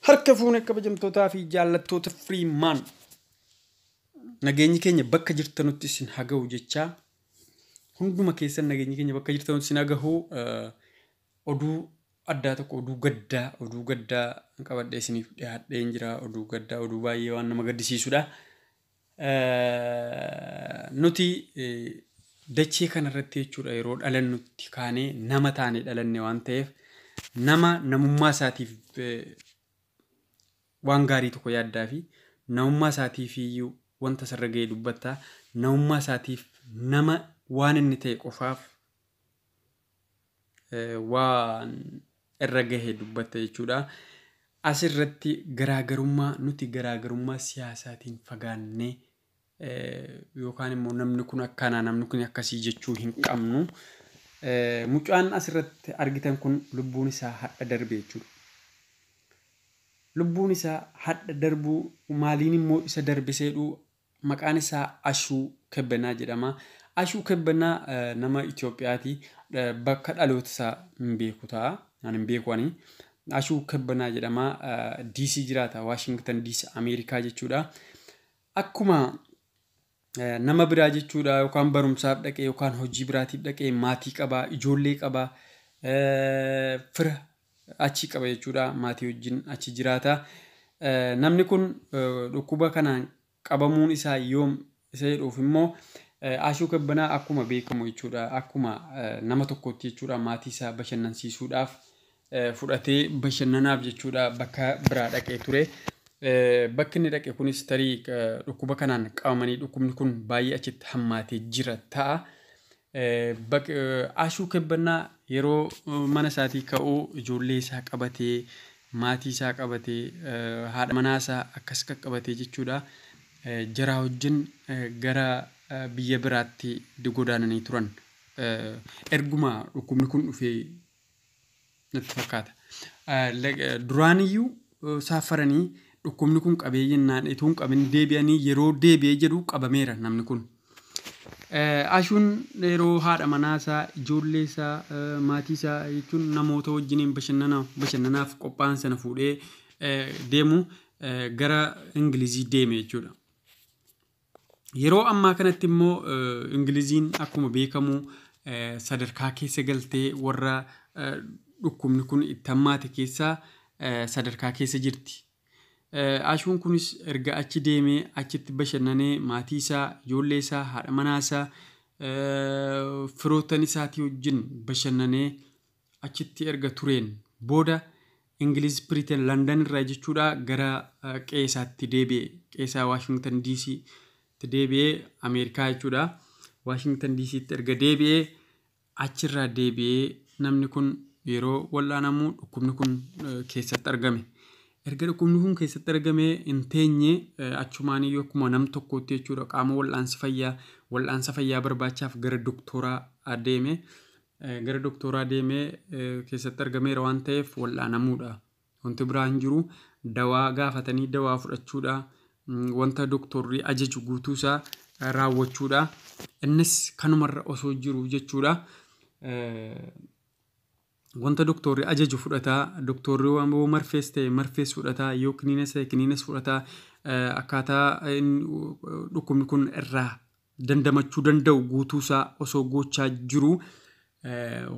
Harka fuune kabajamtootaa fi jaallattoota Freeman. Nageenyi keenya bakka jirtanutti isin haga'u jechaa hunduma keessan nageenyi keenya bakka jirtanutti isin haga'u eh, oduu addaa tokko oduu gaddaa oduu gaddaa qabadhee isiniif dhiyaadheen jira oduu gaddaa oduu baay'ee waan nama gaddisiisudha. Nuti dachee kana irratti jechuudha yeroo dhalannutti kaanee nama taane dhalanne waan ta'eef nama namummaa isaatiif waan gaarii tokko yaaddaa fi namummaa isaatiif iyyuu wanta isarra ga'e dubbatta. Namummaa isaatiif nama waan inni ta'e qofaaf waan irra gahe dubbatta jechuudha. Asirratti garaagarummaa nuti garaagarummaa siyaasaatiin fagaannee yookaan immoo namni kun akkana namni kun akkasii jechuu hin qabnu. Mucaan asirratti argitan kun lubbuun isaa hadha darbe jechuudha. Lubbuun isaa hadha darbuu maaliin immoo isa darbiseedhuu Maqaan isaa Ashuu Kebbenaa jedhama. Ashuu Kebbenaa nama Itoophiyaati. Bakka dhaloota isaa hin beeku ta'a. Ani hin beeku ani. Ashuu Kebbenaa jedhama. DC jiraata. Waashingtan DC Ameerikaa jechuudha. Akkuma nama biraa jechuudha yookaan barumsaaf dhaqee yookaan hojii biraatiif dhaqee maatii qabaa, ijoollee qabaa, fira achi qaba jechuudha. Maatii wajjin achi jiraata. Namni kun dhukkuba kanaan qabamuun isaa yoom isa jedhuuf immoo Ashuu Kebbanaa akkuma beekamu jechuudha. Akkuma nama tokkootti jechuudha maatii isaa bashannansiisuudhaaf fudhatee bashannanaaf jechuudha bakka biraa dhaqee ture. Bakki inni dhaqe kunis tarii dhukkuba kanaan qabamanii dhukkubni kun baay'ee achitti hammaatee jira ta'a. Baq, Ashuu Kebbannaa yeroo mana isaatii ka'u ijoollee isaa qabatee, maatii isaa qabatee, haadha manaa isaa akkas qaqqabatee jechuudha jaraa wajjin gara biyya biraatti godaananii turan. Erguma dhukkubni kun dhufee natti fakkaata. Duraaniyyuu saaffaranii dhukkubni kun qabee jennaan utuu hin qabin deebi'anii yeroo deebi'ee jedhu qabameera namni kun. Ashuun yeroo haadha manaa isaa, ijoollee isaa, maatii isaa jechuun namoota wajjiniin bashannanaaf qophaa'an sana fuudhee deemu gara Ingilizii deeme jechuudha. Yeroo ammaa kanatti immoo Ingiliziin akkuma beekamu sadarkaa keessa galtee warra dhukkubni kun itti hammaate keessaa sadarkaa keessa jirti. Ashuun kunis erga achi deemee achitti bashannanee maatii isaa, ijoollee isaa, haadha manaa isaa, firoottan isaatii wajjin bashannanee achitti erga tureen booda Ingiliz Piriiteen Landan irraa jechuudha gara qe'ee isaatti deebi'e. Qe'ee isaa Waashingtan DC itti deebi'ee Ameerikaa jechuudha. Waashingtan DC itti erga deebi'ee achirraa deebi'ee namni kun yeroo wal'aanamu dhukkubni kun keessatti argame. Erga dhukkubni kun keessatti argame hin teenye achumaan iyyuu akkuma nam tokkootti jechuudha qaama wal'aansi fayyaa wal'aansa fayyaa barbaachaaf gara doktooraa deeme. gara doktooraa deemee keessatti argameera waan ta'eef wal'aanamuudha. Wanti biraa hin jiru. Dawaa gaafatanii dawaa fudhachuudha. Wanta doktorri ajaju guutuusaa raawwachuudha. Innis kanumarra osoo jiru jechuudha. Wanta doktorri ajaju fudhataa, doktorri yoo marfees ta'e marfees fudhataa, yoo kiniinas ta'e kiniinas fudhataa akkaataa dhukkubni kun irraa dandamachuu danda'u guutuu isaa osoo goochaa jiruu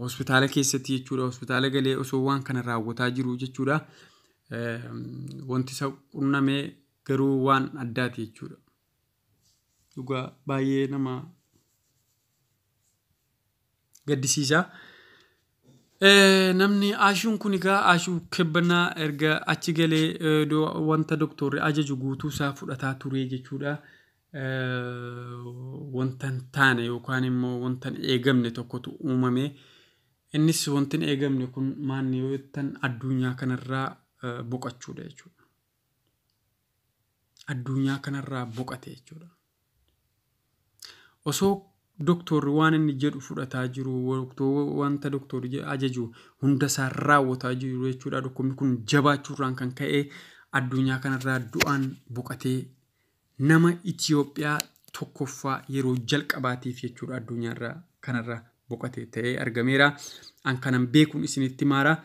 hospitaala keessatti jechuudha. Hospitaala galee osoo waan kana raawwataa jiru jechuudha. Wanti isa qunnamee garuu waan addaati jechuudha. Dhugaa baay'ee nama gaddisiisa. Eh, Namni Aashuun kun egaa Aashuu Kebbannaa erga achi galee eh, do- wanta doktorri ajaju guutuu isaa fudhataa ture jechuudha. Eh, Wanta hin taane yookaan immoo wanta hin eegamne tokkotu uumame. Innis wanti hin eegamne kun maanni yoo jettan addunyaa kanarraa eh, boqachuudha jechuudha. Addunyaa kanarraa boqate jechuudha. Osoo doktoorri waan inni jedhu fudhataa jiru, wanta doktoorri ajaju hunda isaa raawwataa jiru jechuudha. Dhukkubni kun jabaachuurraan kan ka'e addunyaa kanarraa du'aan boqatee nama Itoophiyaa tokkoffaa yeroo jalqabaatiif jechuudha addunyaarraa kanarraa boqate ta'ee argameera. An kanan beekuun isinitti maara.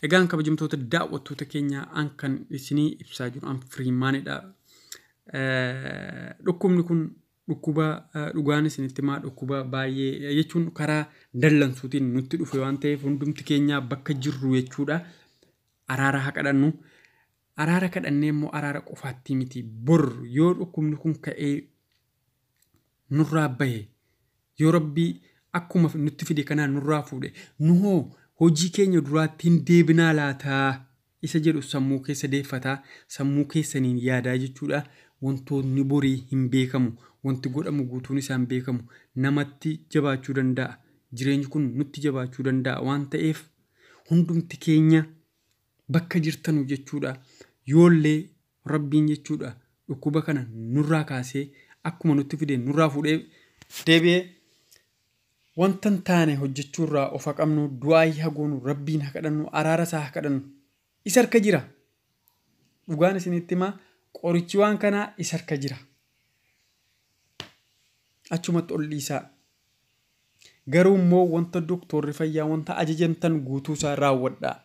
Egaan kabajamtoota daawwattoota keenyaa an kan isinii ibsaa jiru an firiimaanidha. Dhukkubni kun dhukkuba dhugaan isinitti himaa dhukkuba baay'ee jechuun karaa dallansuutiin nutti dhufe waan ta'eef hundumti keenyaa bakka jirru jechuudha. Araara haa kadhannu. Araara kadhannee immoo araara qofaattii miti. Bor yoo dhukkubni kun ka'ee nurraa bahe yoo rabbii akkuma nutti fide kanaan nurraa fuudhe nu hoo hojii keenya duraatti hin deebinaa laataa isa jedhu sammuu keessa deeffataa sammuu keessaniin yaadaa jechuudha wantoonni borii hin beekamu wanti godhamu guutuun isaan beekamu namatti jabaachuu danda'a jireenyi kun nutti jabaachuu danda'a waan ta'eef hundumti keenya Bakka jirtanu jechuudha yoollee rabbiin jechuudha dhukkuba kana nurraa kaasee akkuma nutti fideen nurraa fuudhee deebi'ee wanta hin taane hojjechuu irraa of haqamnu du'aayii hagoonu rabbiin hakadhannu araara isaa hakadhannu isa harka jira dhugaan isinitti himaa qorichi waan kanaa isa harka jira achumatti ol dhiisaa Garuu immoo wanta doktoorri fayyaa wanta ajajamtan guutuu isaa raawwadhaa.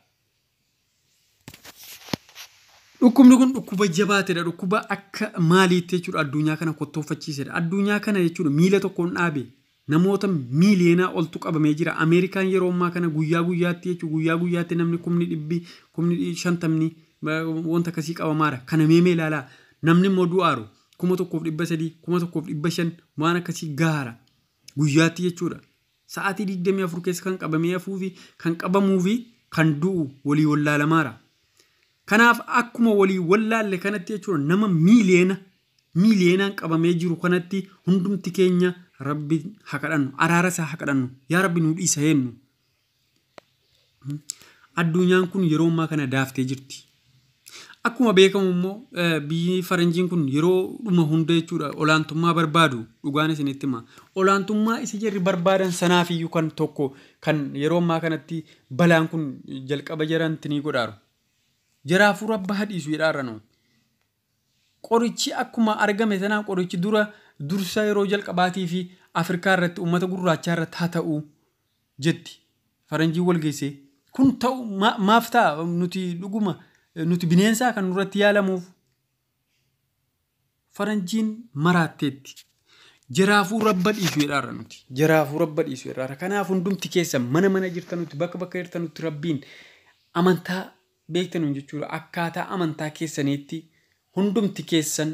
Dhukkubni kun dhukkuba jabaatedha. Dhukkuba akka maaliitti jechuudha addunyaa kana kottooffachiisedha. Addunyaa kana jechuudha miila tokkoon dhaabe namoota miiliyoonaa oltu qabamee jira. Ameerikaan yeroo ammaa kana guyyaa guyyaatti jechuudha guyyaa guyyaatti namni kumni dhibbi kumni dhi- shantamni ba- wanta akkasii qabamaara. Kana meemee ilaalaa namni immoo du'aaru kuma tokkoof dhibba sadii kuma tokkoof dhibba shan waan akkasii gahaara. Guyyaatti jechuudha. Sa'aatii 24 keessa kan qabamee hafuu fi kan qabamuu fi kan du'u walii wallaalamaara. Kanaaf akkuma walii wallaalle kanatti jechuudha nama miiliyeena miiliyeenaan qabamee jiru kanatti hundumti keenya rabbi ha kadhannu araara isaa ha kadhannu yaa rabbi nuu dhiisa heennu. Adduunyaan kun yeroo ammaa kana daaftee jirti. Akkuma beekamu immoo biyyi faranjiin kun yeroo dhuma hunda jechuudha olaantummaa barbaadu dhugaan isinitti hima. Olaantummaa isa jarri barbaadan sanaaf iyyuu kan tokko kan yeroo ammaa kanatti balaan kun jalqaba jaranti ni godhaaru. Jaraa hafuura abbaa hadhiisu jedhaarra nuun. Qorichi akkuma argame sanaa qorichi dura dursa yeroo jalqabaatii fi Afrikaa irratti uummata gurraachaa irratti haa ta'u. jetti faranjiin wal geessee. Kun ta'u ma- maaf ta'a nuti dhuguma eh, nuti bineensaa kan nurratti yaalamuuf faranjiin maraatteetti. Jaraafuu rabba dhiisu jedhaarra nuti. Jaraafuu rabba dhiisu jedhaarra. Kanaaf hundumti keessa mana mana jirtanutti bakka bakka jirtanutti rabbiin amantaa beektanuun jechuudha. Akkaataa amantaa keessaniitti hundumti keessan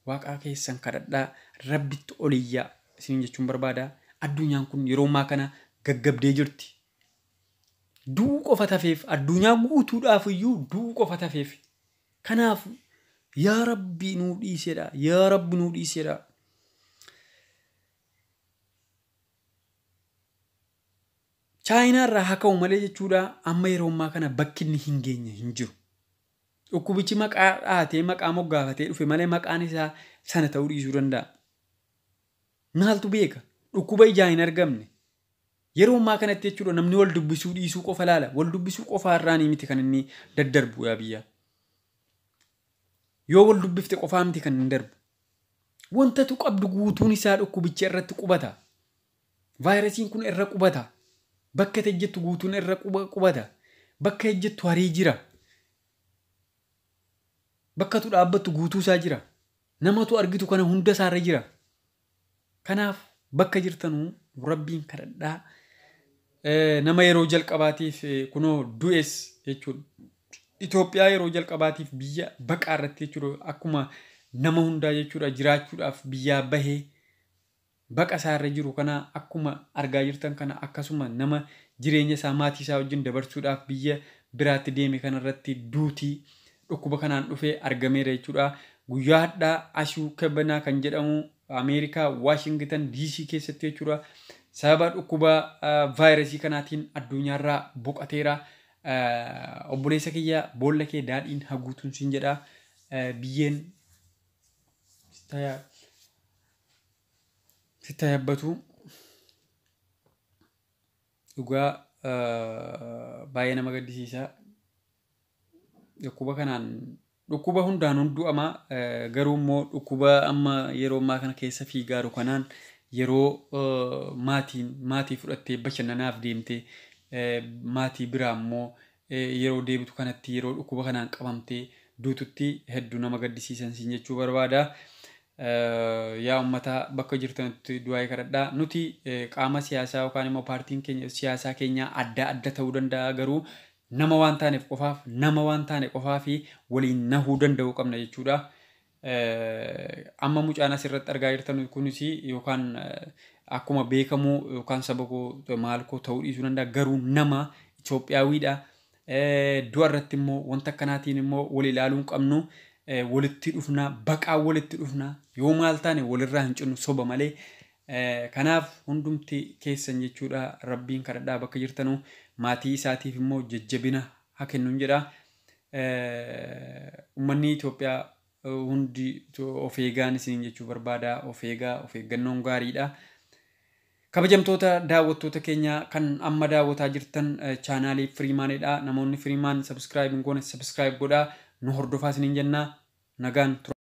Waaqaa keessan kadhadhaa, Rabbitti ol iyyaa isiniin jechuun barbaada. Adduunyaan kun yeroo ammaa kana gaggabdee jirti. Du'uu qofa tafeef, addunyaa guutuudhaaf iyyuu du'uu qofa tafeef. Kanaaf yaa Rabbi nuu dhiisedha, yaa Rabbi nuu dhiisedha. Chaayinaa irraa haa ka'u malee jechuudha amma yeroo ammaa kana bakki inni hin geenye hin jiru. Dhukkubichi maqaa dhahatee, maqaa moggaafatee dhufe malee maqaan isaa sana ta'uu dhiisuu danda'a. Maaltu beeka? Dhukkuba ijaa hin argamne. Yeroo ammaa kanatti jechuudha namni wal dubbisuu dhiisuu qofa laala. Wal dubbisuu qofaa irraanii miti kan inni daddarbu yaa biyyaa. Yoo wal dubbifte qofaa miti kan inni darbu. Wantatu qabdu guutuun isaa dhukkubicha irratti qubata. Vaayirasiin kun erra qubata. Bakka ati ejjettu guutuun erra qubata. Bakka ejjettu harii jira. Bakka tu dhaabbattu guutuu isaa jira. Namatu argitu kana hunda isaarra jira. Kanaaf bakka jirtanuu rabbiin kadhadhaa. Nama yeroo jalqabaatiif kunoo du'es jechuudha. Itoophiyaa yeroo jalqabaatiif biyya baqaa irratti jechuudha. Akkuma nama hundaa jechuudha jiraachuudhaaf biyyaa bahee baqa isaa irra jiru kana akkuma argaa jirtan kana akkasuma nama jireenya isaa maatii isaa wajjin dabarsuudhaaf biyya biraatti deeme kana irratti duuti dhukkuba kanaan dhufe argameera jechuudha. Guyyaa hadhaa Ashuu Kebenaa kan jedhamu Ameerikaa Waashingitan DC keessatti jechuudha sababa dhukkuba vaayirasii kanaatiin addunyaarraa boqateera. Obboleessa kiyya boolla kee daadhiin haguutuun siin jedha biyyeen sitti haa yabbatu dhugaa baay'ee nama gaddisiisa dhukkuba kanaan dhukkuba hundaan hunduu amaa garuu immoo dhukkuba amma yeroo ammaa kana keessa fiigaaru kanaan yeroo maatiin maatii fudhattee bashannanaaf deemte maatii biraa immoo yeroo deebitu kanatti yeroo dhukkuba kanaan qabamtee duututti heddu nama gaddisiisan siin jechuu barbaada. Yaa ummata bakka jirtanutti du'aa'ii kadhadha. Nuti qaama siyaasaa yookaan immoo paartiin keenya siyaasaa keenyaa adda adda ta'uu danda'a garuu nama waan taaneef qofaaf nama waan taane qofaa fi waliin nahuu danda'uu qabna jechuudha. Amma mucaan asirratti argaa jirtan kunis yookaan akkuma beekamu yookaan saba koo maal koo ta'uu dhiisuu danda'a garuu nama Itoophiyaawiidha. Du'a irratti immoo wanta akkanaatiin immoo wal ilaaluu hin qabnu walitti dhufna baqaa walitti dhufna yoo maal taane walirraa hin cinnu soba malee. Kanaaf hundumti keessan jechuudha rabbiin kadhadhaa bakka jirtanu maatii isaatiif immoo jajjabina haa kennuun jedha. Ummannii Itoophiyaa hundi of eegaan isiniin jechuu barbaada. Of eegaa, of eeggannoon gaariidha. Kabajamtoota daawwattoota keenya kan amma daawwataa jirtan chaanaalii Firiimaanidha. Namoonni Firiimaan sabiskiraayib hin goone sabiskiraayib godhaa. Nu hordofaa isiniin jenna. Nagaan tura.